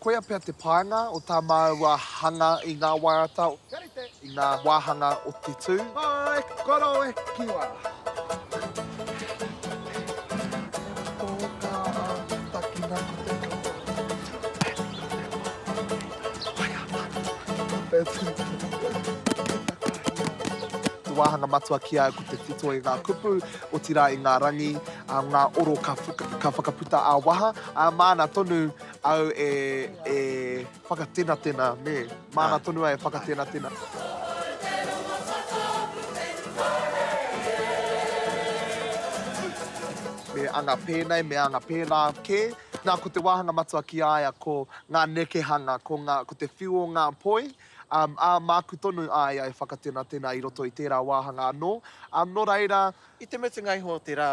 Koia pea te painga o tā māua hanga i ngā waiata, i ngā wāhanga o te tū. Hai koro e kiwa! Te wāhanga matua ki a au ko te whito i ngā kupu, otirā i ngā rangi, ngā oro ka whakaputa ā-waha, ā-māna tonu. Au e, e whakatenatena, nē. Māna tonu ai e whakatenatena. Me anga pēnei, me anga pēnā kē. Nā, ko te wāhanga matua ki a ia ko ngā nekehanga, ko, ngā, ko te whiu o ngā poi, um, ā, māku tonu a ia e whakatenatena i roto i tērā wāhanga anō. Um, nō reira. I te mutunga iho o te rā.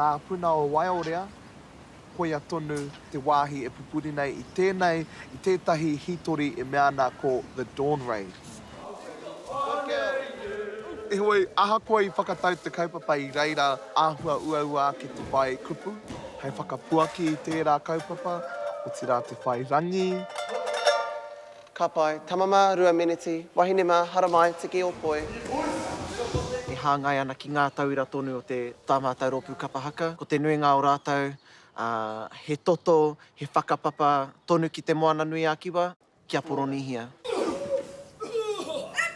Ngā puna o Waiorea, koia tonu te wāhi e pupuri nei i tēnei, i tētahi hītori e mea ana ko The Dawn Raid. Heoi, ahakoa i whakatau te kaupapa i reira āhua uaua ake te whai kupu hei whakapuaki i tērā kaupapa, otirā te whai rangi, Ka pai. Tama mā, rua meneti. Wahine mā, haramai, tiki ō poi. E hāngai ana ki ngā tauira tonu o te Tā Mātau Rōpū Kapa Haka. Ko te nuinga o rātou, ā, he toto, he whakapapa tonu ki Te Moananui-a-Kiwa, ki a Poronīhia.